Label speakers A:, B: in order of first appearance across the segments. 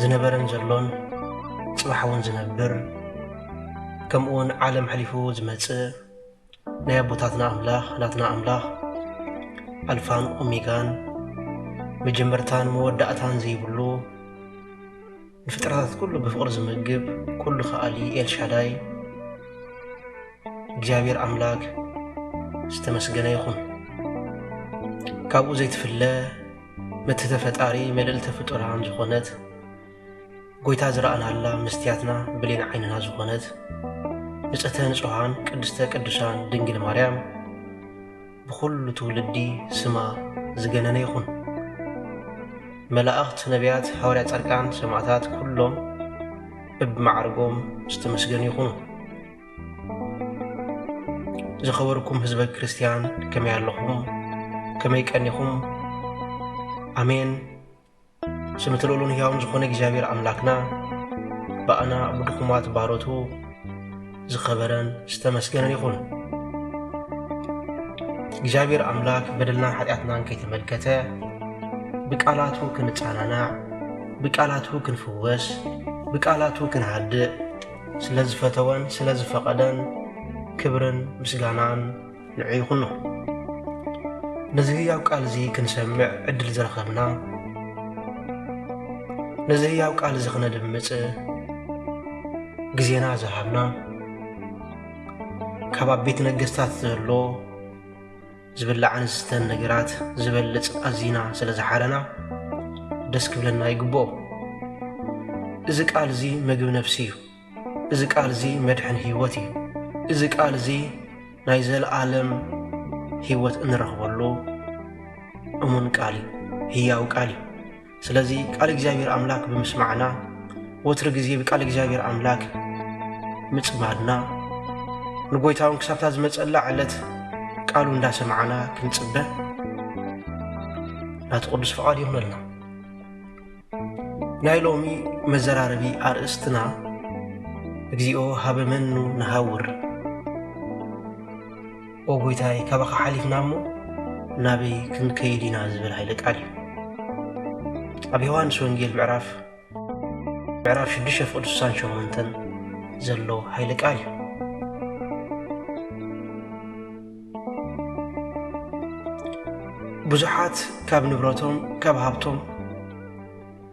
A: ዝነበረን ዘሎን ጽባሕ እውን ዝነብር ከምኡ እውን ዓለም ሕሊፉ ዝመጽእ ናይ ኣቦታትና ኣምላኽ ናትና ኣምላኽ ኣልፋን ኦሜጋን መጀመርታን መወዳእታን ዘይብሉ ንፍጥረታት ኩሉ ብፍቕሪ ዝምግብ ኩሉ ከኣሊ ኤልሻዳይ እግዚኣብሔር ኣምላክ ዝተመስገነ ይኹን ካብኡ ዘይትፍለ ምትሕተ ፈጣሪ ምልእልተ ፍጡራን ዝኾነት ጎይታ ዝረኣናላ መስትያትና ብሌን ዓይንና ዝኾነት ንጽህተ ንጹሃን ቅድስተ ቅዱሳን ድንግል ማርያም ብኹሉ ትውልዲ ስማ ዝገነነ ይኹን። መላእኽት፣ ነቢያት፣ ሃዋርያ፣ ጻድቃን፣ ሰማዕታት ኩሎም እብ ማዕርጎም ዝተመስገኑ ይኹኑ። ዝኸበርኩም ህዝበ ክርስትያን ከመይ ኣለኹም? ከመይ ቀኒኹም? ኣሜን። ስምቲ ልዑሉን ህያውን ዝኾነ እግዚኣብሔር ኣምላክና ብኣና ብድኹማት ባሮቱ ዝኸበረን ዝተመስገነን ይኹን። እግዚኣብሔር ኣምላክ በደልና ሓጢኣትናን ከይተመልከተ ብቃላቱ ክንጸናናዕ፣ ብቃላቱ ክንፍወስ፣ ብቃላቱ ክንሃድእ ስለ ዝፈተወን ስለ ዝፈቐደን ክብርን ምስጋናን ንዑ ይኹኖ። ነዚ ህያው ቃል እዚ ክንሰምዕ ዕድል ዝረኸብና ነዚ ህያው ቃል እዚ ክነድምፅ ግዜና ዝሃብና ካብ ኣብ ቤት ነገስታት ዘሎ ዝብላዕን ዝስተን ነገራት ዝበልጽ ኣዚና ስለ ዝሓረና ደስ ክብለና ይግብኦ። እዚ ቃል እዚ ምግብ ነፍሲ እዩ። እዚ ቃል እዚ መድሕን ህይወት እዩ። እዚ ቃል እዚ ናይ ዘለኣለም ህይወት እንረኽበሉ እሙን ቃል እዩ። ህያው ቃል እዩ። ስለዚ ቃል እግዚኣብሔር ኣምላክ ብምስማዕና ወትሪ ግዜ ብቃል እግዚኣብሔር ኣምላክ ምጽማድና ንጎይታውን ክሳብታ ዝመጸላ ዕለት ቃሉ እንዳሰማዕና ክንጽበ ናቲ ቅዱስ ፍቓድ ይኹነልና ናይ ሎሚ መዘራረቢ ኣርእስትና እግዚኦ ሃበመኑ ንሃውር ኦ ጐይታይ፣ ካባኻ ሓሊፍና እሞ ናበይ ክንከይድ ኢና ዝብል ሃይለ ቃል እዩ። ኣብ ዮሃንስ ወንጌል ምዕራፍ ምዕራፍ ሽዱሽተ ፍቕዲ ስሳን ሸሞንተን ዘሎ ሃይለ ቃል እዩ ብዙሓት ካብ ንብረቶም ካብ ሃብቶም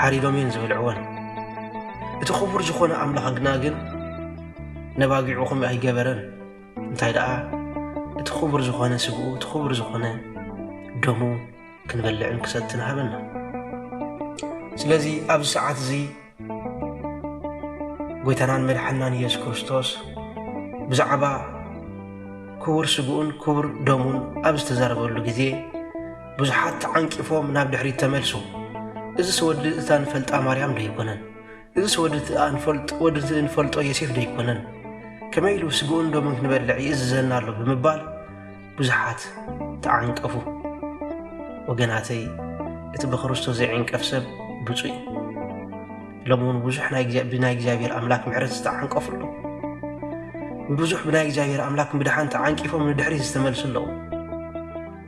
A: ሓሪዶም እዮም ዝበልዕወን። እቲ ክቡር ዝኾነ ኣምላኽና ግን ነባጊዑ ከምኡ ኣይገበረን። እንታይ ደኣ እቲ ክቡር ዝኾነ ስግኡ እቲ ክቡር ዝኾነ ደሙ ክንበልዕን ክሰትን ሃበና። ስለዚ ኣብዚ ሰዓት እዚ ጎይታናን መድሓናን ኢየሱስ ክርስቶስ ብዛዕባ ክቡር ስግኡን ክቡር ደሙን ኣብ ዝተዛረበሉ ግዜ ብዙሓት ተዓንቂፎም ናብ ድሕሪት ተመልሱ። እዝስ ወዲ እታ ንፈልጣ ማርያም ዶ ኣይኮነን? እዝስ ወዲ እቲ እንፈልጦ ዮሴፍ ዶ ኣይኮነን? ከመይ ኢሉ ስግኡን ደሙን ክንበልዕ ይእዝዘና ኣሎ ብምባል ብዙሓት ተዓንቀፉ። ወገናተይ እቲ ብክርስቶስ ዘይዕንቀፍ ሰብ ብፁዕ እዩ። ሎሚ እውን ብዙሕ ብናይ እግዚኣብሔር ኣምላክ ምሕረት ዝተዓንቀፉ ኣለዉ። ብዙሕ ብናይ እግዚኣብሔር ኣምላክ ምድሓን ተዓንቂፎም ንድሕሪት ዝተመልሱ ኣለዉ።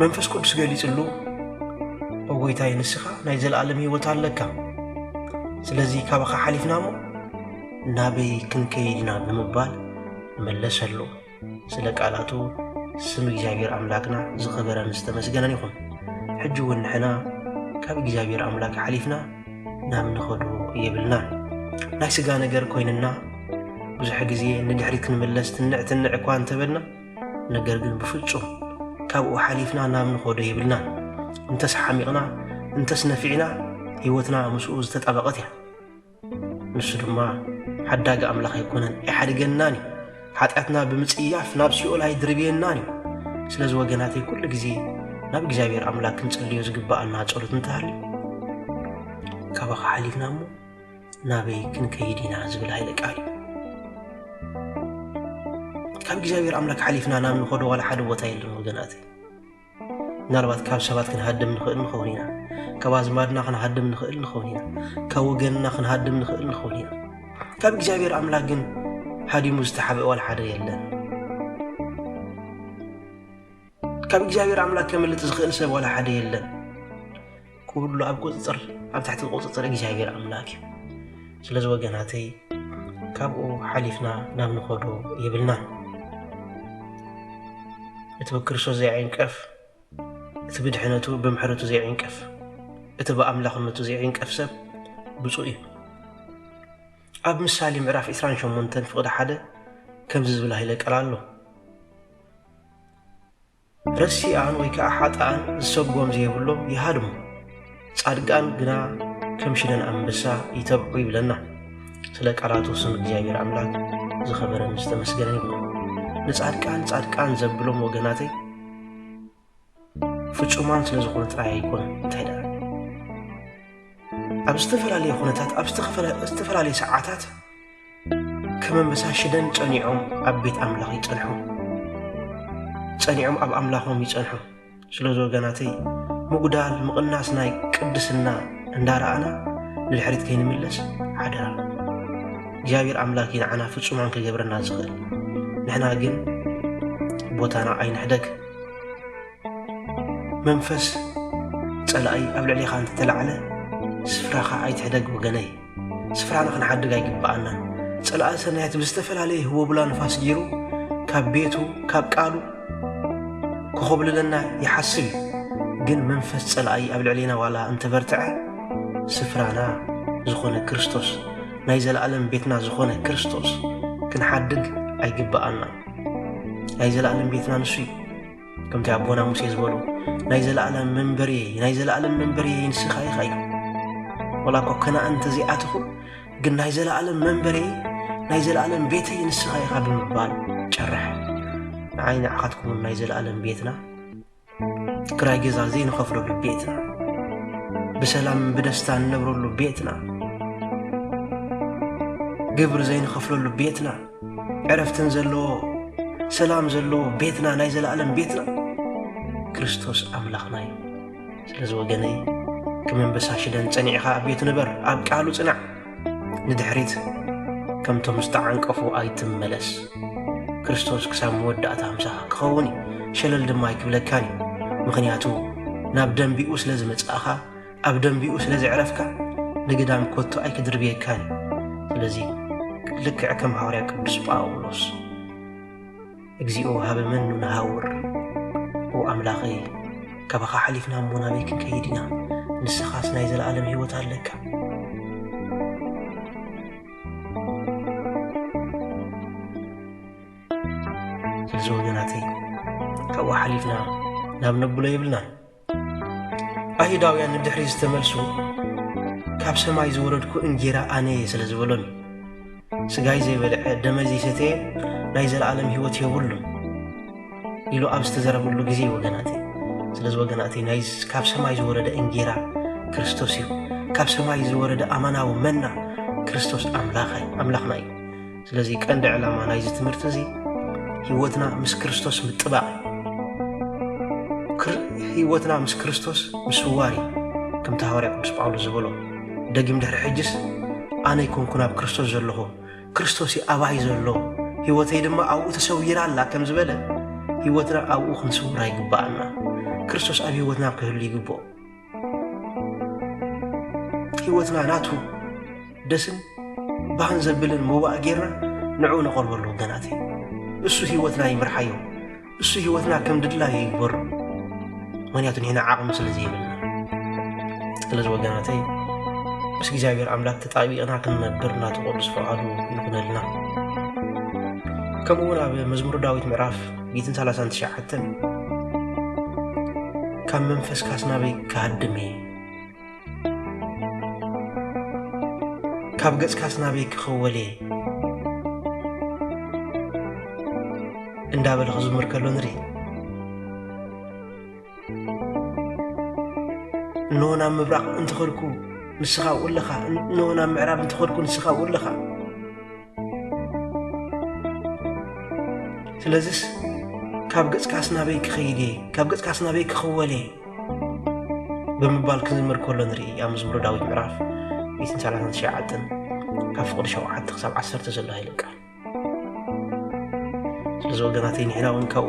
A: መንፈስ ቅዱስ ገሊጽሉ ጐይታይ ንስኻ ናይ ዘለኣለም ህይወት ኣለካ ስለዚ ካባኻ ሓሊፍና እሞ ናበይ ክንከይድና ብምባል መለሰሉ ስለ ቃላቱ ስም እግዚኣብሔር ኣምላክና ዝኸበረን ዝተመስገነን ይኹን ሕጂ እውን ንሕና ካብ እግዚኣብሔር ኣምላክ ሓሊፍና ናብ ንኸዱ የብልናን ናይ ስጋ ነገር ኮይንና ብዙሕ ግዜ ንድሕሪት ክንምለስ ትንዕ ትንዕ እኳ እንተበልና ነገር ግን ብፍጹም ካብኡ ሓሊፍና ናብ ንኾዶ የብልናን። እንተስ ሓሚቕና እንተስ ነፊዕና ህይወትና ምስኡ ዝተጣበቐት እያ። ንሱ ድማ ሓዳጊ ኣምላኽ ኣይኮነን፣ ኣይሓድገናን እዩ። ሓጢኣትና ብምጽያፍ ናብ ሲኦል ኣይድርብየናን እዩ። ስለዚ ወገናተይ ኩሉ ግዜ ናብ እግዚኣብሔር ኣምላክ ክንጽልዮ ዝግብኣና ጸሎት እንተሃልዩ ካባኻ ሓሊፍና እሞ ናበይ ክንከይድ ኢና ዝብል ሃይለ ቃል እዩ ካብ እግዚኣብሔር ኣምላክ ሓሊፍና ናብ ንኸዶ ዋላ ሓደ ቦታ የለን ወገናት ምናልባት ካብ ሰባት ክንሃድም ንኽእል ንኸውን ኢና ካብ ኣዝማድና ክንሃድም ንኽእል ንኸውን ኢና ካብ ወገንና ክንሃድም ንኽእል ንኸውን ኢና ካብ እግዚኣብሔር ኣምላክ ግን ሃዲሙ ዝተሓበ ዋላ ሓደ የለን ካብ እግዚኣብሔር ኣምላክ ከምልጥ ዝኽእል ሰብ ዋላ ሓደ የለን ኩሉ ኣብ ቁፅፅር ኣብ ትሕቲ ቁፅፅር እግዚኣብሔር ኣምላክ እዩ ስለዚ ወገናተይ ካብኡ ሓሊፍና ናብ ንኸዶ የብልናን እቲ ብክርስቶስ ዘይዕንቀፍ እቲ ብድሕነቱ ብምሕረቱ ዘይዕንቀፍ እቲ ብኣምላኽነቱ ዘይዕንቀፍ ሰብ ብፁእ እዩ ኣብ ምሳሌ ምዕራፍ 28 ፍቕዲ ሓደ ከምዚ ዝብል ሃይለ ቃል ኣሎ ረሲኣን ወይ ከዓ ሓጥኣን ዝሰጎም ዘይብሎም ይሃድሙ፣ ጻድቃን ግና ከም ሽደን ኣንበሳ ይተብዑ ይብለና። ስለ ቃላቱ ስም እግዚኣብሔር ኣምላክ ዝኸበረን ዝተመስገነን ይኹን። ንጻድቃን ጻድቃን ዘብሎም ወገናተይ ፍጹማን ስለ ዝኾኑ ጥራይ ኣይኮነን እንታይ ደኣ ኣብ ዝተፈላለየ ኩነታት ኣብ ዝተፈላለየ ሰዓታት ከም ኣንበሳ ሽደን ጸኒዖም ኣብ ቤት ኣምላኽ ይጸንሑ ጸኒዖም ኣብ ኣምላኾም ይጸንሑ ስለዚ ወገናተይ ምጉዳል ምቕናስ ናይ ቅድስና እንዳረኣና ንድሕሪት ከይንምለስ ሓደራ እግዚኣብሔር ኣምላክ ንዓና ፍጹማን ክገብረና ዝኽእል ንሕና ግን ቦታና ኣይንሕደግ መንፈስ ጸላኢ ኣብ ልዕሌኻ እንተተላዕለ ስፍራኻ ኣይትሕደግ ወገነይ ስፍራና ክንሓድግ ኣይግብኣናን ጸላኢ ሰናያት ብዝተፈላለየ ህወቡላ ንፋስ ገይሩ ካብ ቤቱ ካብ ቃሉ ክኾብልለና ይሓስብ እዩ ግን መንፈስ ጸላኢ ኣብ ልዕሌና ዋላ እንተበርትዐ ስፍራና ዝኾነ ክርስቶስ ናይ ዘለኣለም ቤትና ዝኾነ ክርስቶስ ክንሓድግ ኣይግብኣናን ናይ ዘለኣለም ቤትና ንሱ እዩ ከምቲ ኣቦና ሙሴ ዝበሉ ናይ ዘለኣለም መንበሪ ናይ ዘለኣለም መንበሪ ንስኻ ኢኻ እዩ ወላ እኮ ከና እንተዘይኣትኹ ግን ናይ ዘለኣለም መንበሪ ናይ ዘለኣለም ቤተይ ንስኻ ኢኻ ብምባል ጨርሐ ንዓይ ንዓኻትኩምን ናይ ዘለኣለም ቤትና ክራይ ገዛ ዘይንኸፍለሉ ቤትና ብሰላም ብደስታ እንነብረሉ ቤትና ግብሪ ዘይንኸፍለሉ ቤትና ዕረፍትን ዘለዎ ሰላም ዘለዎ ቤትና ናይ ዘለኣለም ቤትና ክርስቶስ ኣምላኽና እዩ ስለዚ ወገነይ ክመንበሳ ሽደን ጸኒዕኻ ኣብ ቤቱ ንበር ኣብ ቃሉ ጽናዕ ንድሕሪት ከምቶም ዝተዓንቀፉ ኣይትመለስ ክርስቶስ ክሳብ መወዳእታ ምሳኻ ክኸውን እዩ ሸለል ድማ ኣይክብለካን እዩ ምኽንያቱ ናብ ደንቢኡ ስለ ዝመጽእኻ ኣብ ደንቢኡ ስለ ዝዕረፍካ ንግዳም ኮቶ ኣይክድርብየካን እዩ ስለዚ ልክዕ ከም ሃዋርያ ቅዱስ ጳውሎስ እግዚኦ ሃበ መኑ ንሃውር ኦ ኣምላኸይ ካባኻ ሓሊፍና እሞ ናበይ ክንከይድ ኢና ንስኻስ ናይ ዘለኣለም ህይወት ኣለካ ስለዚ ወገናተይ ካብኡ ሓሊፍና ናብ ነብሎ የብልናን ኣይሁዳውያን ንድሕሪት ዝተመልሱ ካብ ሰማይ ዝወረድኩ እንጌራ ኣነ እየ ስለ ዝበሎም እዩ ስጋይ ዘይበልዐ ደመይ ዘይሰተየ ናይ ዘለኣለም ህይወት የብሉን ኢሉ ኣብ ዝተዘረብሉ ግዜ ወገናት ስለዚ ወገናት ናይ ካብ ሰማይ ዝወረደ እንጌራ ክርስቶስ እዩ ካብ ሰማይ ዝወረደ ኣማናዊ መና ክርስቶስ ኣምላኽ ኣምላኽና እዩ ስለዚ ቀንዲ ዕላማ ናይዚ ትምህርቲ እዚ ህይወትና ምስ ክርስቶስ ምጥባቕ እዩ ህይወትና ምስ ክርስቶስ ምስዋር እዩ ከምቲ ሃዋርያ ቅዱስ ጳውሎስ ዝበሎ ደጊም ድሕሪ ሕጅስ ኣነ ይኮንኩ ናብ ክርስቶስ ዘለኹ ክርስቶስ እዩ ኣባይ ዘሎ ህይወተይ ድማ ኣብኡ ተሰዊራ ኣላ ከም ዝበለ ህይወትና ኣብኡ ክንስውራ ይግባኣና ክርስቶስ ኣብ ህይወትና ክህሉ ይግብኦ ህይወትና ናቱ ደስን ባህን ዘብልን መዋእ ጌርና ንዕኡ ነቐርበሉ ወገናት እዩ እሱ ህይወትና ይምርሓዮ እሱ ህይወትና ከም ድላዩ ይግበሩ ምክንያቱ ንሕና ዓቕሚ ስለ ዘይብልና ስለዚ ወገናተይ ምስ እግዚኣብሔር ኣምላክ ተጣቢቕና ክንነብር ናቱ ቅዱስ ፈቓዱ ይኹነልና ከምኡውን ኣብ መዝሙር ዳዊት ምዕራፍ ሚእትን ሰላሳን ትሽዓተን ካብ መንፈስካስ ናበይ ክሃድም እየ ካብ ገጽካስ ናበይ ክኽወል እየ እንዳበለ ክዝምር ከሎ ንርኢ እንሆ ናብ ምብራቕ እንትኸድኩ ንስኻ ውለኻ እንሆ ናብ ምዕራብ እንትኸድኩ ንስኻ ውለኻ ስለዝስ ካብ ገጽካስ ናበይ ክኸይድ እየ ካብ ገጽካስ ናበይ ክኽወል እየ ብምባል ክዝምር ከሎ ንርኢ ኣብ መዝሙረ ዳዊት ምዕራፍ 139 ካብ ፍቕዲ 7 ክሳብ 1 ዘሎ ሃይለ ቃል ስለዚ ወገናተይ ንሕና እውን ካብኡ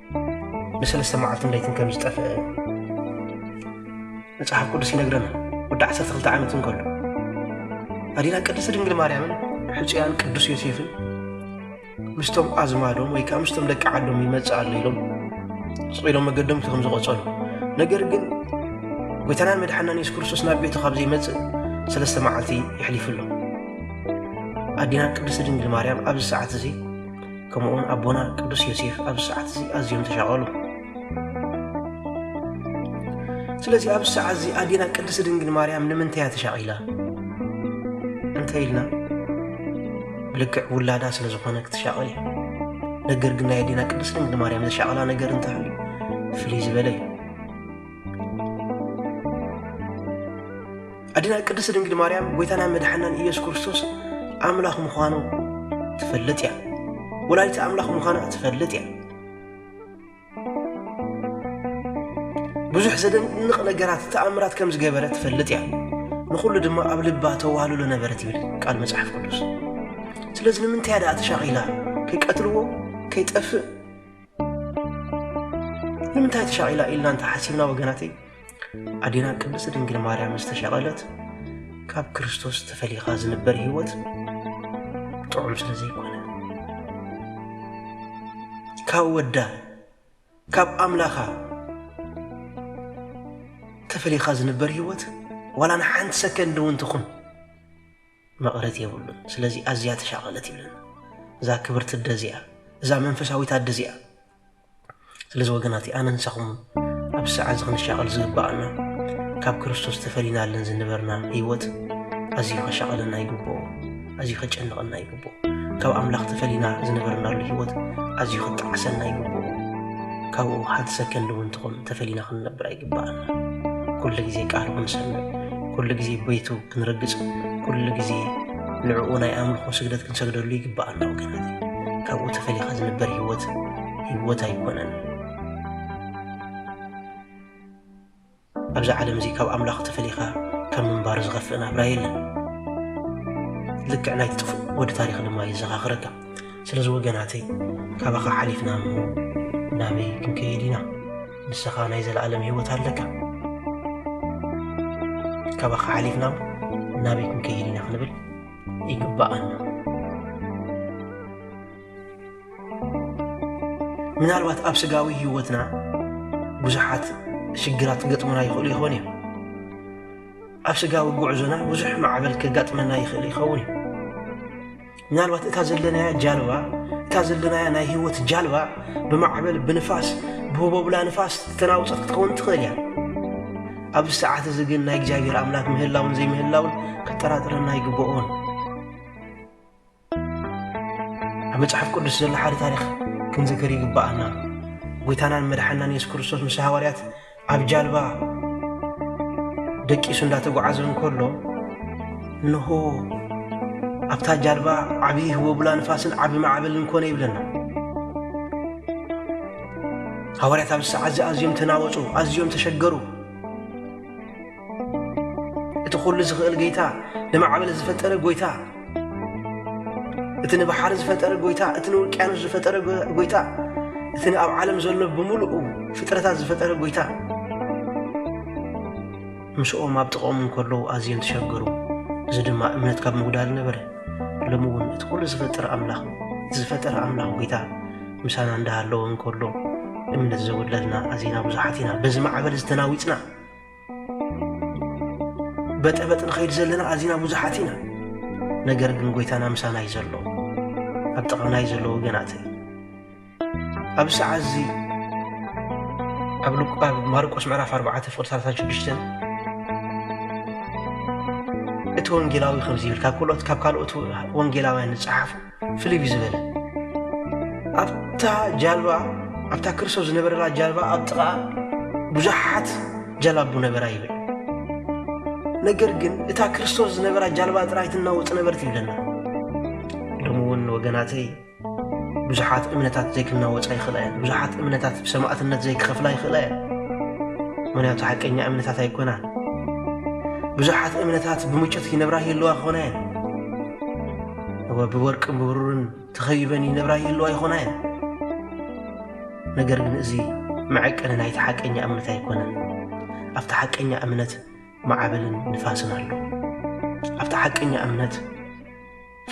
A: ንሰለስተ መዓልትን ለይትን ከም ዝጠፍአ መጽሓፍ ቅዱስ ይነግረና ወዲ ዓሰርተ ክልተ ዓመት እንከሎ ኣዴና ቅድስቲ ድንግል ማርያምን ሕፁያን ቅዱስ ዮሴፍን ምስቶም ኣዝማዶም ወይ ከዓ ምስቶም ደቂ ዓዶም ይመፅእ ኣሎ ኢሎም ስቂሎም መገዶም እቲ ከም ዝቆፀሉ ነገር ግን ጎይታናን መድሓናን የሱስ ክርስቶስ ናብ ቤቱ ካብ ዘይመፅእ ሰለስተ መዓልቲ ይሕሊፉ ኣሎ ኣዴና ቅድስቲ ድንግል ማርያም ኣብዚ ሰዓት እዚ ከምኡውን ኣቦና ቅዱስ ዮሴፍ ኣብዚ ሰዓት እዚ ኣዝዮም ተሻቐሉ ስለዚ ኣብዚ ሰዓት እዚ ኣዴና ቅድስቲ ድንግል ማርያም ንምንታይ እያ ተሻቒላ እንተ ኢልና ብልክዕ ውላዳ ስለ ዝኾነ ክትሻቐል እዩ ነገር ግን ናይ ኣዴና ቅድስቲ ድንግል ማርያም ዘሻቐላ ነገር እንተሃልዩ ፍልይ ዝበለ እዩ ኣዴና ቅድስት ድንግል ማርያም ጎይታና መድሓናን ኢየሱስ ክርስቶስ ኣምላኽ ምዃኑ ትፈልጥ እያ። ወላዲተ ኣምላኽ ምዃና ትፈልጥ እያ። ብዙሕ ዘደንቕ ነገራት ተኣምራት ከም ዝገበረ ትፈልጥ እያ። ንኹሉ ድማ ኣብ ልባ ተዋህልሎ ነበረት ይብል ቃል መጽሓፍ ቅዱስ። ስለዚ ንምንታይ ደኣ ተሻቒላ ከይቀትልዎ ከይጠፍእ ንምንታይ ተሻቒላ ኢልና እንተሓሲብና ወገናተይ ኣዴና ቅድስቲ ድንግል ማርያም ዝተሸቐለት ካብ ክርስቶስ ተፈሊኻ ዝንበር ህይወት ጥዑም ስለ ዘይኮነ ካብ ወዳ ካብ ኣምላኻ ተፈሊኻ ዝንበር ህይወት ዋላ ንሓንቲ ሰከንድ እውን ትኹን መቐረት የብሉን ስለዚ ኣዝያ ተሻቐለት ይብለና እዛ ክብርቲ ኣደ እዚኣ እዛ መንፈሳዊት ኣደ እዚኣ ስለዚ ወገናት ኣነ ንሳኹም ኣብ ሰዓት ዝኽንሻቐል ዝግባኣና ካብ ክርስቶስ ተፈሊናለን ዝነበርና ህይወት ኣዝዩ ከሻቐለና ይግብኦ ኣዝዩ ከጨንቐና ይግብኦ ካብ ኣምላኽ ተፈሊና ዝነበርናሉ ህይወት ኣዝዩ ክጣዕሰና ይግብኦ ካብኡ ሓንቲ ሰከንድ እውን ትኹን ተፈሊና ክንነብር ኣይግባኣና ኩሉ ግዜ ቃል ክንሰምዕ ኩሉ ግዜ ቤቱ ክንርግጽ ኩሉ ግዜ ንዕኡ ናይ ኣምልኾ ስግደት ክንሰግደሉ ይግብኣና ወገናት ካብኡ ተፈሊኻ ዝንበር ህይወት ህይወት ኣይኮነን ኣብዚ ዓለም እዚ ካብ ኣምላኽ ተፈሊኻ ካብ ምንባር ዝኸፍእ ናብራ የለን ልክዕ ናይ ትጥፍእ ወዲ ታሪክ ድማ የዘኻኽረካ ስለዚ ወገናተይ ካባኻ ሓሊፍና እሞ ናበይ ክንከይድ ኢና ንስኻ ናይ ዘለኣለም ህይወት ኣለካ። ካባኻ ሓሊፍና ናበይ ክንከይድ ኢና ክንብል ይግባኣና። ምናልባት ኣብ ስጋዊ ህይወትና ብዙሓት ሽግራት ክገጥሙና ይኽእሉ ይኾኑ እዮም። ኣብ ስጋዊ ጉዕዞና ብዙሕ ማዕበል ከጋጥመና ይኽእል ይኸውን እዩ። ምናልባት እታ ዘለናያ ጃልባ እታ ዘለናያ ናይ ህይወት ጃልባ ብማዕበል ብንፋስ ብህቦብላ ንፋስ ተናውፀት ክትከውን ትኽእል እያ ኣብዚ ሰዓት እዚ ግን ናይ እግዚኣብሔር ኣምላክ ምህላውን ዘይምህላውን ከጠራጥረና ኣይግብኦን ኣብ መጽሓፍ ቅዱስ ዘሎ ሓደ ታሪክ ክንዝክር ይግባኣና ጎይታናን መድሓናን የሱስ ክርስቶስ ምስ ሃዋርያት ኣብ ጃልባ ደቂሱ እንዳተጓዓዘ እንከሎ እንሆ ኣብታ ጃልባ ዓብዪ ህቦብላ ንፋስን ዓቢ ማዕበልን ኮነ ይብለና። ሃዋርያት ኣብዚ ሰዓት እዚ ኣዝዮም ተናወጹ፣ ኣዝዮም ተሸገሩ። እቲ ዅሉ ዝኽእል ጐይታ፣ ንማዕበል ዝፈጠረ ጐይታ፣ እቲ ንባሕሪ ዝፈጠረ ጐይታ፣ እቲ ንውቅያኖስ ዝፈጠረ ጐይታ፣ እቲ ንኣብ ዓለም ዘሎ ብምሉኡ ፍጥረታት ዝፈጠረ ጐይታ ምስኦም ኣብ ጥቕኦም እንከለዉ ኣዝዮም ተሸገሩ። እዚ ድማ እምነት ካብ ምጉዳል ነበረ። ሎሚ እውን እቲ ኵሉ ዝፈጠረ ኣምላኽ ዝፈጠረ ኣምላኽ ጐይታ ምሳና እንዳሃለወ እንከሎ እምነት ዘጉድለልና ኣዚና ብዙሓት ኢና። በዚ ማዕበል ዝተናዊጽና በጠበጥ ንኸይድ ዘለና ኣዚና ብዙሓት ኢና ነገር ግን ጎይታና ምሳና እዩ ዘሎ ኣብ ጥቓና እዩ ዘሎ ወገናተይ ኣብ ሰዓት እዚ ኣብ ልቋብ ማርቆስ ምዕራፍ 4 ፍቕሪ 36 እቲ ወንጌላዊ ከምዚ ይብል ካብ ካልኦት ካብ ካልኦት ወንጌላውያን ዝጸሓፉ ፍልይ ዝበለ ኣብታ ጃልባ ኣብታ ክርስቶስ ዝነበረላ ጃልባ ኣብ ጥቓ ብዙሓት ጃላቡ ነበራ ይብል ነገር ግን እታ ክርስቶስ ዝነበራ ጃልባ ጥራይ ትናወፅ ነበርት ይብለና ሎሚ እውን ወገናተይ ብዙሓት እምነታት ዘይክናወፃ ይኽእላ እየን ብዙሓት እምነታት ብሰማእትነት ዘይክኸፍላ ይኽእላ እየን ምክንያቱ ሓቀኛ እምነታት ኣይኮናን ብዙሓት እምነታት ብምጮት ይነብራ ይህልዋ ክኾና እየን እወ ብወርቅን ብብሩርን ተኸቢበን ይነብራ ይህልዋ ይኾና እየን ነገር ግን እዚ መዐቀኒ ናይቲ ሓቀኛ እምነት ኣይኮነን ኣብቲ ሓቀኛ እምነት ማዕበልን ንፋስን ኣሎ ኣብቲ ሓቀኛ እምነት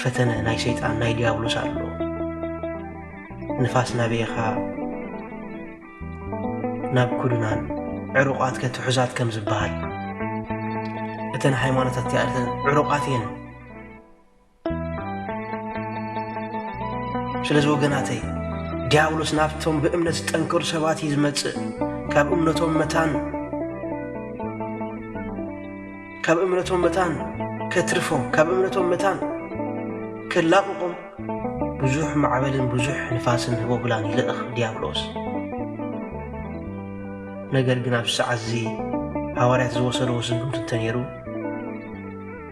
A: ፈተነ ናይ ሰይጣን ናይ ዲያብሎስ ኣሎ ንፋስ ናበየኻ ናብ ኩሉናን ዕሩቋት ከትሑዛት ከም ዝበሃል እተን ሃይማኖታት እቲኣተን ዕሩቋት እየን ስለዚ ወገናተይ ዲያብሎስ ናብቶም ብእምነት ዝጠንከሩ ሰባት እዩ ዝመጽእ ካብ እምነቶም መታን ካብ እምነቶም መታን ከትርፎም ካብ እምነቶም መታን ከላቕቖም ብዙሕ ማዕበልን ብዙሕ ንፋስን ህቦብላን ይልእኽ ዲያብሎስ ነገር ግን ኣብ ሰዓት እዚ ሃዋርያት ዝወሰድዎ ስጉምቲ እንተነይሩ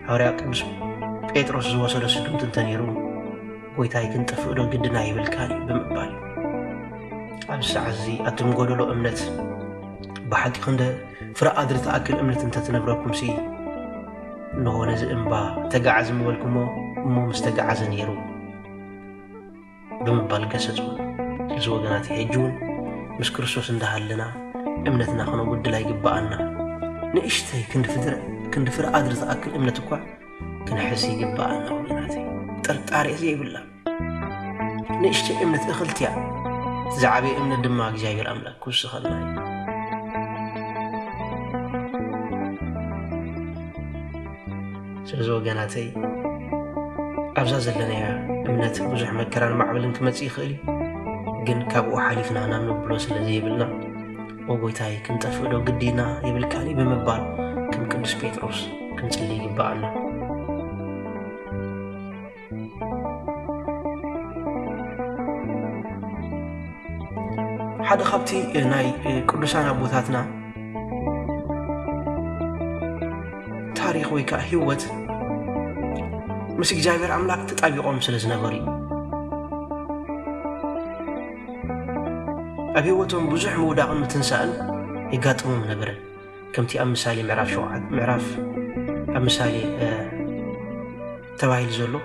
A: ሃዋርያ ቅዱስ ጴጥሮስ ዝወሰዶ ስጉምቲ እንተነይሩ ጎይታይ ክንጥፍእዶ ግድን ኣይብልካን እዩ ብምባል ኣብዚ ሰዓት እዚ ኣቱም ጎደሎ እምነት ብሓቂ ክንደ ፍረ ኣድሪ ትኣክል እምነት እንተትነብረኩምሲ እንሆ ነዚ እምባ ተጋዓዝ ምበልኩሞ እሞ ምስ ተጋዓዘ ነይሩ ብምባል ገሰጹ። እዚ ወገናት ሕጂ እውን ምስ ክርስቶስ እንዳሃለና እምነትና ክነጉድል ኣይግባኣና። ንእሽተይ ክንዲ ፍድረ ክንዲ ፍረ ኣድሪ ዝኣክል እምነት እኳ ክንሕዝ ይግባኣና ወገናት። ጥርጣሬ ዘይብላ ንእሽተይ እምነት እኽልቲ እያ። ዝዓበየ እምነት ድማ እግዚኣብሔር ኣምላክ ክውስኸልና እዩ። ስለዚ ወገናተይ ኣብዛ ዘለናያ እምነት ብዙሕ መከራን ማዕበልን ክመጽእ ይኽእል እዩ ግን ካብኡ ሓሊፍና ናብ ንብሎ ስለ ዘይብልና ወጎይታይ ክንጠፍእዶ ግዲና ይብልካኒ ብምባል ከም ቅዱስ ጴጥሮስ ክንጽሊ ይግብኣና ሓደ ካብቲ ናይ ቅዱሳን ኣቦታትና ታሪክ ወይ ከዓ ህይወት ምስ እግዚኣብሔር ኣምላክ ተጣቢቆም ስለ ዝነበሩ እዩ ኣብ ህይወቶም ብዙሕ ምውዳቕን ምትንሳእን የጋጥሞም ነበረ ከምቲ ኣብ ምሳሌ ምዕራፍ ሸውዓት ምዕራፍ ኣብ ምሳሌ ተባሂሉ ዘሎ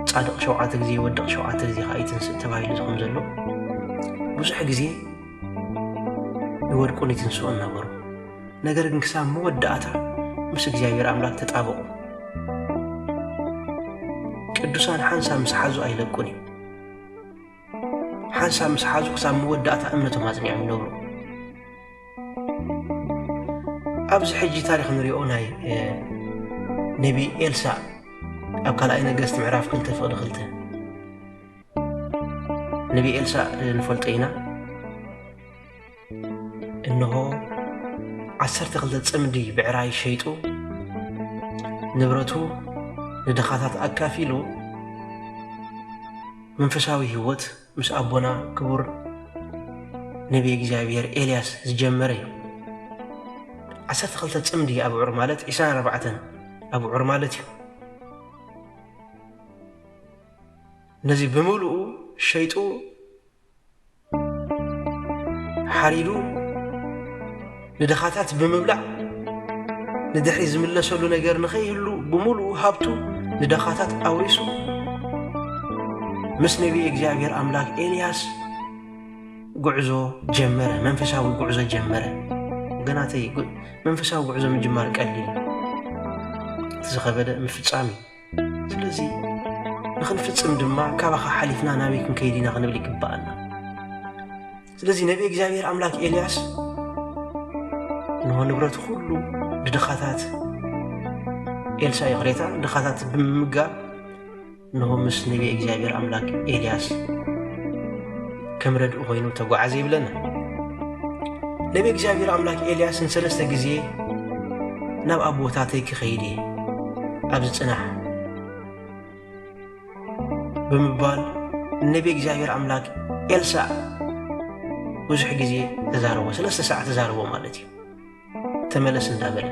A: ጻድቕ ሸውዓተ ግዜ ይወድቕ ሸውዓተ ግዜ ከዓ ይትንስእ ተባሂሉ ዝኸም ዘሎ ብዙሕ ግዜ ይወድቁን ይትንስኡን ነበሩ ነገር ግን ክሳብ መወዳእታ ምስ እግዚኣብሔር ኣምላኽ ተጣበቑ ቅዱሳን ሓንሳ ምስ ሓዙ ኣይለቁን እዩ ሓንሳብ ምስ ሓዙ ክሳብ መወዳእታ እምነቶም ኣጽኒዖም ይነብሩ ኣብዚ ሕጂ ታሪክ ንሪኦ ናይ ነቢ ኤልሳ ኣብ ካልኣይ ነገስት ምዕራፍ ክልተ ፍቅዲ ክልተ ነቢ ኤልሳ ንፈልጦ ኢና እንሆ ዓሰርተ ክልተ ጽምዲ ብዕራይ ሸይጡ ንብረቱ ንድኻታት ኣካፊሉ መንፈሳዊ ህይወት ምስ ኣቦና ክቡር ነቢይ እግዚኣብሔር ኤልያስ ዝጀመረ እዩ ዓሰርተ ክልተ ጽምዲ ኣብዑር ማለት ዒስራን ኣርባዕተን ኣብዑር ማለት እዩ ነዚ ብምልኡ ሸይጡ ሓሪዱ ንድኻታት ብምብላዕ ንድሕሪ ዝምለሰሉ ነገር ንኸይህሉ ብምሉኡ ሃብቱ ንድኻታት ኣውሪሱ ምስ ነቢይ እግዚኣብሔር ኣምላክ ኤልያስ ጉዕዞ ጀመረ፣ መንፈሳዊ ጉዕዞ ጀመረ። ወገናተይ መንፈሳዊ ጉዕዞ ምጅማር ቀሊል ዝኸበደ ምፍጻም እዩ። ስለዚ ንኽንፍጽም ድማ ካባኻ ሓሊፍና ናበይ ክንከይድ ኢና ክንብል ይግብኣና። ስለዚ ነቢ እግዚኣብሔር ኣምላክ ኤልያስ ንሆ ንብረት ኩሉ ንድኻታት ኤልሳ ይቕሬታ ድኻታት ብምምጋብ ንሆ ምስ ነቢ እግዚኣብሔር ኣምላክ ኤልያስ ከም ረድኡ ኮይኑ ተጓዓዘ ይብለና። ነቢ እግዚኣብሔር ኣምላክ ኤልያስ ንሰለስተ ግዜ ናብ ኣቦታተይ ክኸይድ እየ ኣብዚ ጽናሕ ብምባል ንነቢ እግዚኣብሔር ኣምላክ ኤልሳዕ ብዙሕ ግዜ ተዛረቦ ሰለስተ ሰዓት ተዛረቦ ማለት እዩ ተመለስ እንዳበለ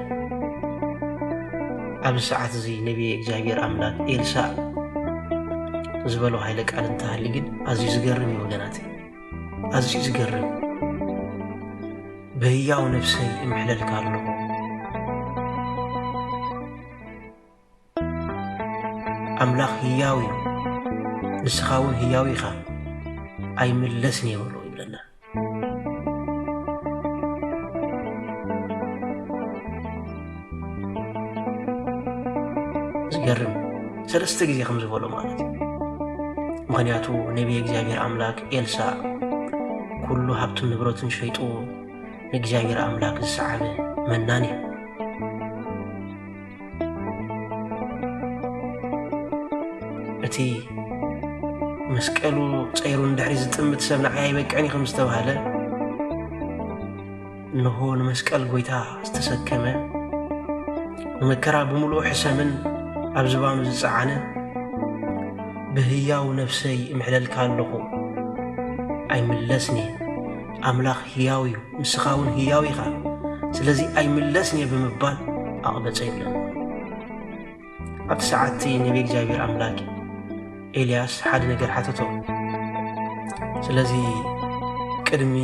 A: ኣብዚ ሰዓት እዚ ነቢየ እግዚኣብሔር ኣምላክ ኤልሳእ ዝበሎ ሃይለ ቃል እንተሃሊ ግን ኣዝዩ ዝገርም እዩ ወገናት ኣዝዩ ዝገርም ብህያው ነፍሰይ እምሕለልካ ኣለኹ ኣምላኽ ህያው እዩ፣ ንስኻ እውን ህያው ኢኻ፣ ኣይምለስን እየ በሎ ይብለና። ዝገርም ሰለስተ ግዜ ከም ዝበሎ ማለት እዩ። ምክንያቱ ነቢይ እግዚኣብሔር ኣምላክ ኤልሳ ኩሉ ሃብቱን ንብረቱን ሸይጡ ንእግዚኣብሔር ኣምላክ ዝሰዓበ መናን እዩ። እቲ መስቀሉ ፀይሩ ንድሕሪ ዝጥምት ሰብ ንዓይ ኣይበቅዕን ከም ዝተባህለ እንሆ ንመስቀል ጎይታ ዝተሰከመ ንመከራ ብምሉኡ ሕሰምን ኣብ ዝባኑ ዝፀዓነ ብህያው ነፍሰይ እምሕለልካ ኣለኹ ኣይምለስን እየ ኣምላኽ ህያው እዩ፣ ንስኻ እውን ህያው ኢኻ፣ ስለዚ ኣይምለስን እየ ብምባል ኣቕበጸ ይብለና። ኣብቲ ሰዓት እቲ ነቢ እግዚኣብሔር ኣምላክ ኤልያስ ሓደ ነገር ሓተቶ። ስለዚ ቅድሚ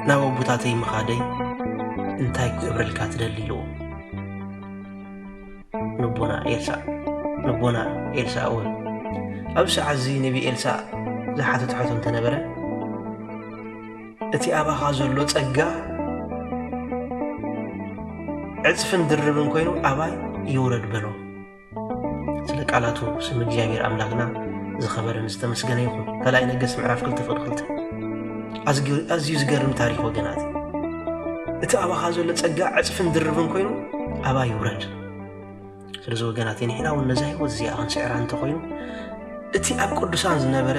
A: ናብ ኣቦታተይ ምኻደይ እንታይ ክገብረልካ ትደሊ ኢልዎ። ንቦና ኤልሳእ ንቦና ኤልሳእ እውን ኣብ ሰዓት እዚ ነቢ ኤልሳእ ዝሓተት ሕቶ እንተነበረ እቲ ኣባኻ ዘሎ ጸጋ ዕጽፍን ድርብን ኮይኑ ኣባይ ይውረድ በሎ ስለ ቃላቱ ስም እግዚኣብሔር ኣምላክና ዝኸበረን ዝተመስገነ ይኹን ካልኣይ ነገሥት ምዕራፍ ክልተ ፍቅዲ ክልተ ኣዝዩ ዝገርም ታሪክ ወገናት እቲ ኣባኻ ዘሎ ጸጋ ዕጽፍን ድርብን ኮይኑ ኣባ ይውረድ ስለዚ ወገናት ንሕና እውን ነዛ ህይወት እዚኣ ክንስዕራ እንተኮይኑ እቲ ኣብ ቅዱሳን ዝነበረ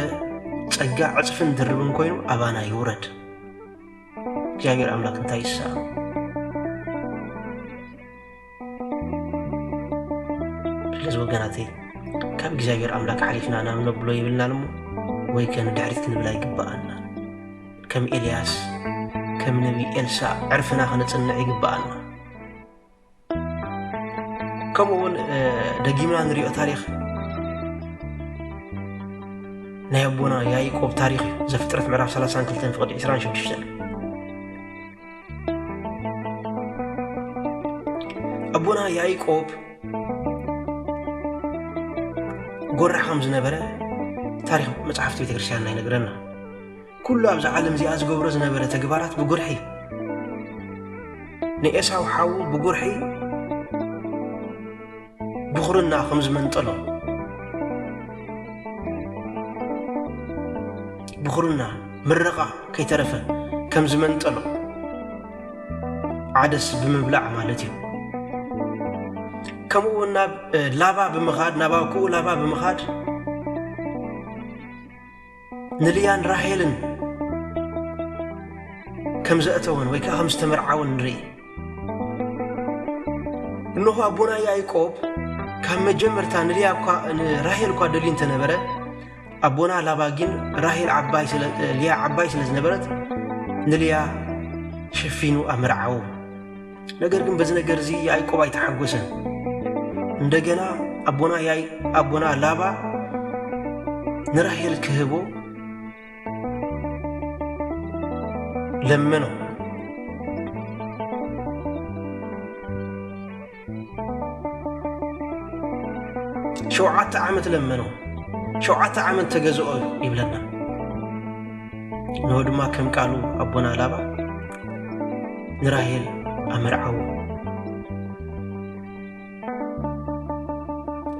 A: ጸጋ ዕጽፍን ድርብን ኮይኑ ኣባና ይውረድ እግዚኣብሔር ኣምላክ እንታይ ይሳ ስለዚ ወገናተይ ካብ እግዚኣብሔር ኣምላክ ሓሊፍና ናብ ነብሎ ይብልናን እሞ ወይ ከ ንድሕሪት ክንብል ኣይግብኣና ከም ኤልያስ ከም ነቢ ኤልሳዕ ዕርፍና ክንጽንዕ ይግብኣና ከምኡ እውን ደጊምና ንሪኦ ታሪክ ናይ ኣቦና ያይቆብ ታሪክ እዩ ዘፍጥረት ምዕራፍ 32 ፍቅዲ 26 ኣቦና ያይቆብ ጎራ ከም ዝነበረ ታሪክ መጽሓፍቲ ቤተክርስትያንና ይነግረና ኩሉ ኣብዚ ዓለም እዚኣ ዝገብሮ ዝነበረ ተግባራት ብጉርሒ ንኤሳው ሓዉ ብጉርሒ ድኹርና ከም ዝመንጠሎ ድኹርና ምረቓ ከይተረፈ ከም ዝመንጠሎ ዓደስ ብምብላዕ ማለት እዩ ከምኡ እውን ናብ ላባ ብምኻድ ናብ ኣኩኡ ላባ ብምኻድ ንልያን ራሄልን ከም ዘእተወን ወይ ከዓ ከም ዝተመርዓወን ንርኢ እነሆ ኣቦና ያዕቆብ ካብ መጀመርታ ንልያ እኳ ንራሄል እኳ ደልዩ እንተነበረ ኣቦና ላባ ግን ራሄል ዓባይ ስለ- እ፣ ልያ ዓባይ ስለ ዝነበረት ንልያ ሸፊኑ ኣመርዓዉ ነገር ግን በዚ ነገር እዚ ያዕቆብ ኣይተሓጎሰን። እንደገና ኣቦና ያይ ኣቦና ላባ ንራሄል ክህቦ ለመነው። ሸውዓተ ዓመት ለመነው። ሸውዓተ ዓመት ተገዝኦ ይብለና። እንሆ ድማ ከም ቃሉ ኣቦና ላባ ንራሄል ኣመርዓዎ።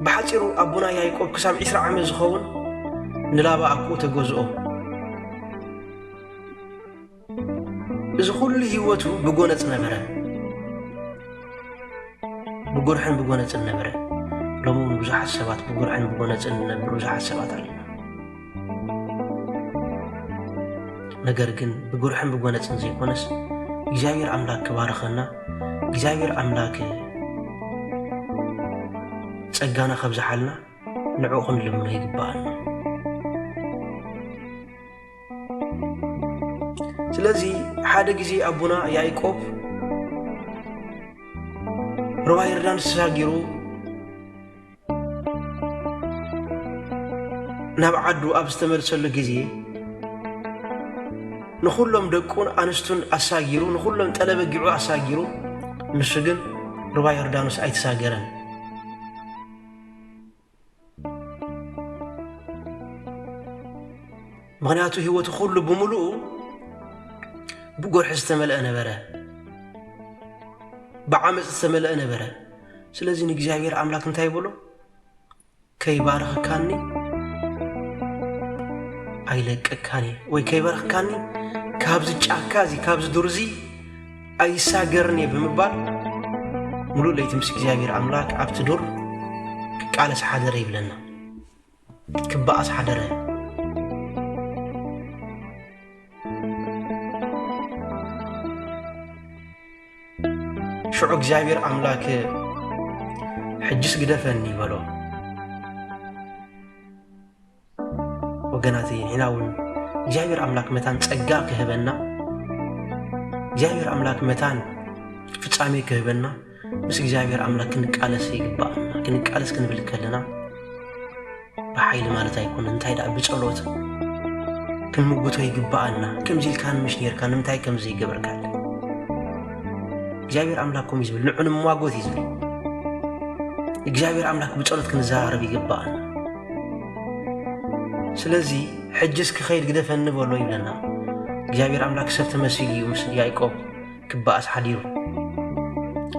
A: ብሓፂሩ ኣቦና ያይቆብ ክሳብ ዒስራ ዓመት ዝኸውን ንላባ ኣኩኡ ተገዝኦ። እዚ ኩሉ ህይወቱ ብጎነፅ ነበረ፣ ብጉርሕን ብጎነፅን ነበረ። ሎሚ እውን ብዙሓት ሰባት ብጉርሕን ብጎነፅን ዝነብሩ ብዙሓት ሰባት ኣለና። ነገር ግን ብጉርሕን ብጎነፅን ዘይኮነስ እግዚኣብሔር ኣምላክ ክባርኸና እግዚኣብሔር ኣምላክ ጸጋና ከብዝሓልና ንዕኡ ክንልምኖ ይግባኣና ስለዚ ሓደ ግዜ ኣቦና ያዕቆብ ሩባ ይርዳን ስራጊሩ ናብ ዓዱ ኣብ ዝተመልሰሉ ግዜ ንኹሎም ደቁን ኣንስቱን ኣሳጊሩ ንኹሎም ጠለበጊዑ ኣሳጊሩ ንሱ ግን ሩባ ዮርዳኖስ ኣይተሳገረን። ምክንያቱ ህይወቱ ኩሉ ብምሉኡ ብጎርሒ ዝተመልአ ነበረ፣ ብዓመፅ ዝተመልአ ነበረ። ስለዚ ንእግዚኣብሔር ኣምላክ እንታይ ይብሎ ከይባረኽካኒ ኣይለቀካኒ ወይ ከይበረኽካኒ ካብዚ ጫካ እዚ ካብዚ ዱር እዚ ኣይሳገርን እየ ብምባል ሙሉእ ለይቲ ምስ እግዚኣብሔር ኣምላክ ኣብቲ ዱር ክቃለስ ሓደረ ይብለና ክበኣስ ሓደረ። ሽዑ እግዚኣብሔር ኣምላክ ሕጅስ ግደፈኒ በሎ። ወገናት ሒና እውን እግዚኣብሔር ኣምላክ መታን ጸጋ ክህበና እግዚኣብሔር ኣምላክ መታን ፍጻሜ ክህበና ምስ እግዚኣብሔር ኣምላክ ክንቃለስ ይግባኣና ክንቃለስ ክንብል ከለና ብሓይሊ ማለት ኣይኮነ እንታይ ደኣ ብጸሎት ክንምጉቶ ይግባኣና ከምዚ ኢልካ ንምሽ ነርካ ንምንታይ ከም ዘይገበርካ እግዚኣብሔር ኣምላክ ከምኡ ዝብል ንዑ ንሟጎት እዩ ዝብል እግዚኣብሔር ኣምላክ ብጸሎት ክንዘራረብ ይግባኣና ስለዚ ሕጅስ ክኸይድ ግደፈኒ በሎ ይብለና እግዚኣብሔር ኣምላክ ሰብ ተመሲሉ እዩ ምስ ያዕቆብ ክበኣስ ሓዲሩ።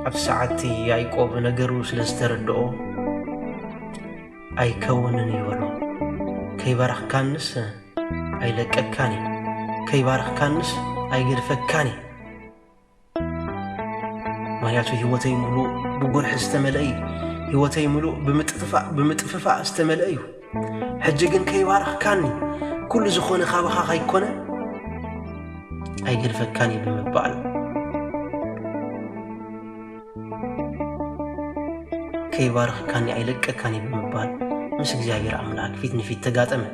A: ኣብቲ ሰዓት እቲ ያእቆብ ነገሩ ስለ ዝተረድኦ፣ ኣይከውንን እዩ በሎ። ከይባረኽካንስ ኣይለቀካን እየ፣ ከይባረኽካንስ ኣይገድፈካን እየ። ምኽንያቱ ህይወተይ ምሉእ ብጉርሒ ዝተመልአ እዩ፣ ህይወተይ ምሉእ ብምጥፍፋእ ዝተመልአ እዩ። ሕጂ ግን ከይባረኽካኒ ኩሉ ዝኾነ ካባኻ ከይኮነ ኣይገድፈካን እዩ ብምባል ከይባረኽካኒ ኣይለቀካን እዩ ብምባል ምስ እግዚኣብሔር ኣምላክ ፊት ንፊት ተጋጠመ።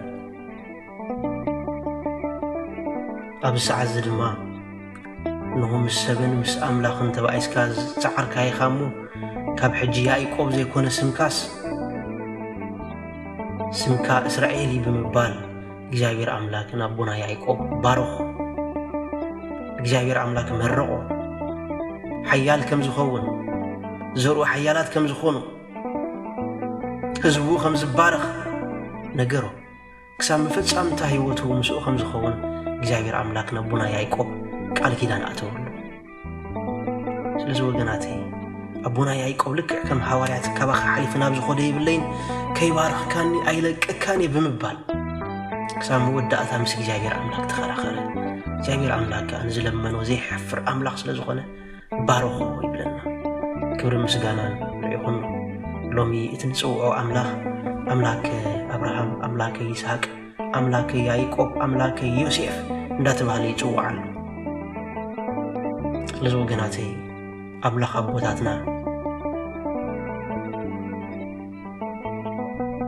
A: ኣብዚ ሰዓት እዚ ድማ እንሆ ምስ ሰብን ምስ ኣምላኽን ተባኢስካ ዝጸዓርካ ኢኻ እሞ ካብ ሕጂ ያኢቆብ ዘይኮነ ስምካስ ስምካ እስራኤል እዩ ብምባል እግዚኣብሔር ኣምላክ ንኣቦና ያኢቆብ ባረኾ እግዚኣብሔር ኣምላክ መረቆ ሓያል ከም ዝኸውን ዘርኡ ሓያላት ከም ዝኾኑ ህዝቡ ከም ዝባረኽ ነገሮ ክሳብ መፈጻምታ ህይወቱ ምስኡ ከም ዝኸውን እግዚኣብሔር ኣምላክ ነቦና ያይቆብ ቃል ኪዳን ኣተወሉ ስለዚ ወገናተይ ኣቦና ያይቆብ ልክዕ ከም ሃዋርያት ካባኻ ሓሊፊ ናብ ዝኾደ የብለይን ከይባርኽካኒ ኣይለቀካን እየ ብምባል ክሳብ መወዳእታ ምስ እግዚኣብሔር ኣምላክ ተኸራኸረ እግዚኣብሔር ኣምላክ ከዓ ንዝለመኖ ዘይሐፍር ኣምላኽ ስለ ዝኾነ ባርኾ ይብለና። ክብርን ምስጋናን ንዒኹኖ። ሎሚ እቲ ንጽውዖ ኣምላኽ ኣምላከ ኣብርሃም፣ ኣምላከ ይስሃቅ፣ ኣምላከ ያይቆብ፣ ኣምላከ ዮሴፍ እንዳተባህለ ይጽዋዕ ኣሎ። ስለዚ ወገናተይ ኣምላኽ ኣቦታትና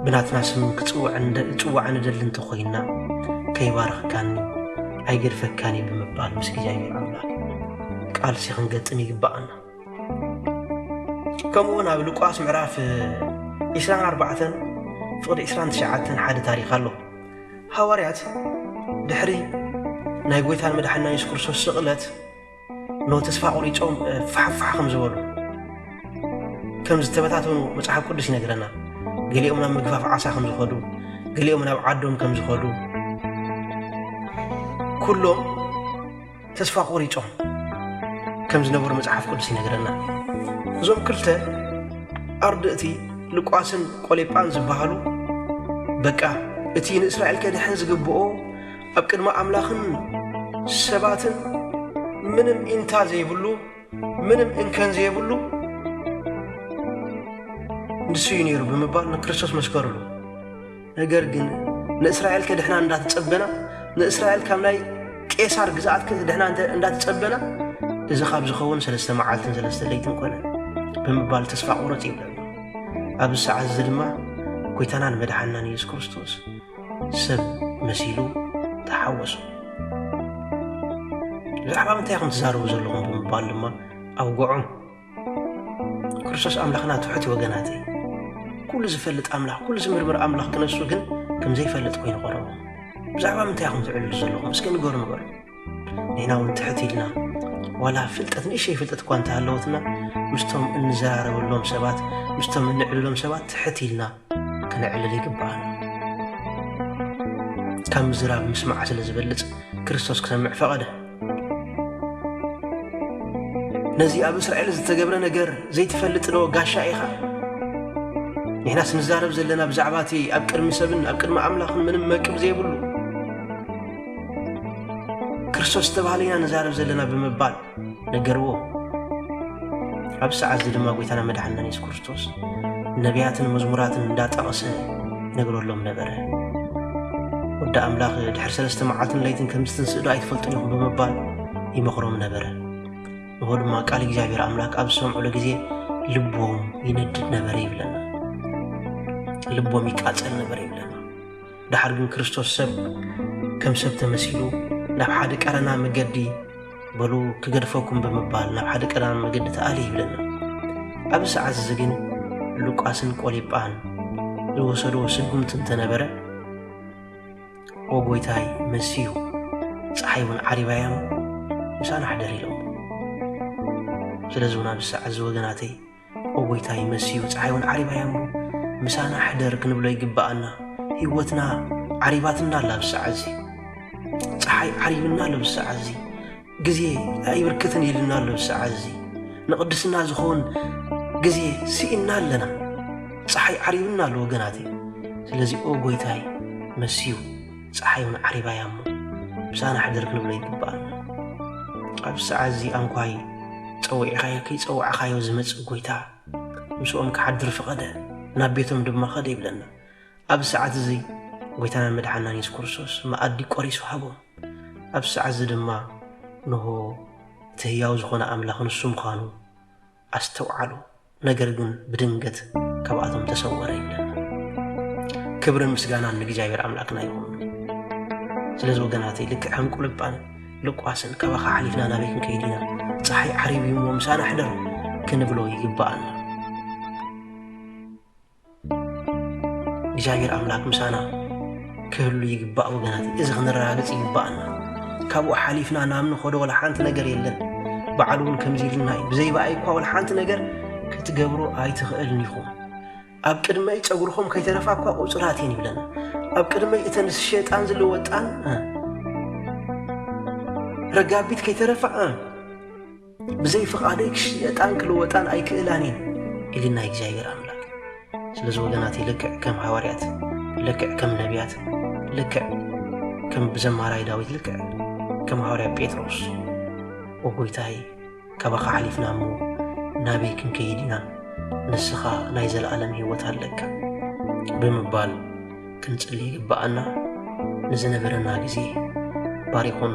A: ብናትና ስም ክጽዋዕ ንደሊ እንተኾይና ከይባረኽካኒ ኣይገድፈካን እዩ ብምባል ምስ እግዚኣብሔር ኣምላኽ ቃልሲ ክንገጥም ይግባኣና ከምኡውን ኣብ ሉቃስ ምዕራፍ 24 ፍቕዲ 29 ሓደ ታሪኽ ኣሎ ሃዋርያት ድሕሪ ናይ ጎይታን መድሓና የሱስ ክርስቶስ ስቕለት ን ተስፋ ቆሪጾም ፋሕ ፋሕ ከም ዝበሉ ከም ዝተበታተኑ መጽሓፍ ቅዱስ ይነግረና። ገሊኦም ናብ ምግፋፍ ዓሳ ከም ዝኸዱ፣ ገሊኦም ናብ ዓዶም ከም ዝኸዱ ኩሎም ተስፋ ቆሪጾም ከም ዝነበሩ መጽሓፍ ቅዱስ ይነግረና። እዞም ክልተ ኣርድእቲ ልቋስን ቆሌጳን ዝበሃሉ በቃ እቲ ንእስራኤል ከድሕን ዝግብኦ ኣብ ቅድሚ ኣምላኽን ሰባትን ምንም ኢንታ ዘይብሉ ምንም እንከን ዘይብሉ ንሱ እዩ ነይሩ ብምባል ንክርስቶስ መስከሩሉ ነገር ግን ንእስራኤል ከድሕና እንዳተጸበና ንእስራኤል ካብ ናይ ቄሳር ግዝኣት ከድሕና እንዳተጸበና እዚ ካብ ዝኸውን ሰለስተ መዓልትን ሰለስተ ለይትን ኮነ ብምባል ተስፋ ቁረጽ ይብለና ኣብዚ ሰዓት እዚ ድማ ጎይታናን መድሓናን ኢየሱስ ክርስቶስ ሰብ መሲሉ ተሓወሶ። ብዛዕባ ምንታይ ኢኹም ትዛረቡ ዘለኹም ብምባል ድማ ኣውግዖም። ክርስቶስ ኣምላኽና ትሑት ወገናት እዩ። ኩሉ ዝፈልጥ ኣምላኽ ኩሉ ዝምርምር ኣምላኽ ክነሱ ግን ከም ዘይፈልጥ ኮይኑ ቐረቡ። ብዛዕባ ምንታይ ኢኹም ትዕልሉ ዘለኹም እስከ ንገሩ ንበሉ። ንሕና እውን ትሕት ኢልና ዋላ ፍልጠት ንእሸይ ፍልጠት እኳ እንተሃለወትና ምስቶም እንዘራረበሎም ሰባት ምስቶም እንዕልሎም ሰባት ትሕት ኢልና ክነዕልል ይግብኣና። ካብ ምዝራብ ምስማዕ ስለ ዝበልጽ ክርስቶስ ክሰምዕ ፈቐደ። ነዚ ኣብ እስራኤል ዝተገብረ ነገር ዘይትፈልጥ ዶ ጋሻ ኢኻ? ንሕናስ ንዛረብ ዘለና ብዛዕባ እቲ ኣብ ቅድሚ ሰብን ኣብ ቅድሚ ኣምላኽን ምንም መቅብ ዘይብሉ ክርስቶስ ዝተባህለ ኢና ንዛረብ ዘለና ብምባል ነገርዎ። ኣብዚ ሰዓት እዚ ድማ ጎይታና መድሓንና የሱስ ክርስቶስ ነቢያትን መዝሙራትን እንዳጠቐሰ ይነግረሎም ነበረ። ወዲ ኣምላኽ ድሕሪ ሰለስተ መዓልትን ለይትን ከም ዝትንስእ ዶ ኣይትፈልጡን ኢኹም ብምባል ይመኽሮም ነበረ። ንሆ ድማ ቃል እግዚኣብሔር ኣምላክ ኣብ ዝሰምዑሉ ግዜ ልቦም ይነድድ ነበረ ይብለና። ልቦም ይቃጸል ነበረ ይብለና። ደሓር ግን ክርስቶስ ሰብ ከም ሰብ ተመሲሉ ናብ ሓደ ቀረና መገዲ በሉ ክገድፈኩም ብምባል ናብ ሓደ ቀረና መገዲ ተኣሊ ይብለና። ኣብዚ ሰዓት እዚ ግን ሉቃስን ቆሊጳን ዝወሰድዎ ስጉምቲ እንተነበረ ወጎይታይ መሲዩ ፀሓይ እውን ዓሪባዮም ምሳና ኣሕደር ኢሎም ስለዚ እውን ኣብዚ ሰዓት እዚ ወገናተይ ኦጎይታይ መሲዩ ጸሓይውን ዓሪባ እያ እሞ ምሳና ሕደር ክንብሎ ይግብኣና ሂወትና ዓሪባትና ኣላ ብሳዕ እዚ ጸሓይ ዓሪብና ኣሎ ብሳዕ እዚ ግዜ ኣይብርክትን ኢልና ኣሎ ብሳዕ እዚ ንቕድስና ዝኸውን ግዜ ስኢና ኣለና ፀሓይ ዓሪብና ኣሎ ወገናት እዩ ስለዚ ኦ ጎይታይ መስዩ ጸሓይ እውን ዓሪባ እያ እሞ ምሳና ሕድር ክንብሎ ይግብኣና ኣብዚ ሰዓት እዚ ኣንኳይ ጸዊዕኻዮ ከይጸዋዕኻዮ ዝመጽእ ጎይታ ምስኦም ክሓድር ፈቐደ ናብ ቤቶም ድማ ኸደ ይብለና ኣብዚ ሰዓት እዚ ጎይታና መድሓናን የሱስ ክርስቶስ መኣዲ ቆሪሱ ሃቦም ኣብዚ ሰዓት እዚ ድማ ንሆ እቲ ህያው ዝኾነ ኣምላኽ ንሱ ምዃኑ ኣስተውዓሉ፣ ነገር ግን ብድንገት ካብኣቶም ተሰወረ ይብለና። ክብርን ምስጋናን ንእግዚኣብሔር ኣምላክና ይኹን። ስለዚ ወገናተይ ልክዕ ከም ቁልጳን ልቋስን ካባኻ ሓሊፍና ናበይ ክንከይድ ኢና ፀሓይ ዓሪብ እዩሞ ምሳና ሕደር ክንብሎ ይግባኣና። እግዚኣብሔር ኣምላክ ምሳና ክህሉ ይግባእ ወገናት፣ እዚ ክንረጋግፅ ይግባእና። ካብኡ ሓሊፍና ናብ ንኸዶ ወላ ሓንቲ ነገር የለን። በዓል እውን ከምዚ ኢሉና እዩ፣ ብዘይበኣይ እኳ ወላ ሓንቲ ነገር ክትገብሩ ኣይትኽእልን ኢኹም። ኣብ ቅድመይ ፀጉርኹም ከይተረፋ እኳ ቁፅራት እየን ይብለና። ኣብ ቅድመይ እተን ዝሸጣን ዝልወጣን ረጋቢት ከይተረፋ ብዘይ ፍቓደይ ክሽየጣን ክልወጣን ኣይክእላን እየን ኢልና እግዚኣብሔር ኣምላክ ስለዚ ወገናት ልክዕ ከም ሃዋርያት ልክዕ ከም ነቢያት ልክዕ ከም ብዘማራይ ዳዊት ልክዕ ከም ሃዋርያ ጴጥሮስ ወጎይታይ ካባኻ ሓሊፍና እሞ ናበይ ክንከይድ ኢና ንስኻ ናይ ዘለዓለም ህይወት ኣለካ ብምባል ክንጽሊ ይግብኣና ንዝነበረና ግዜ ባሪኹን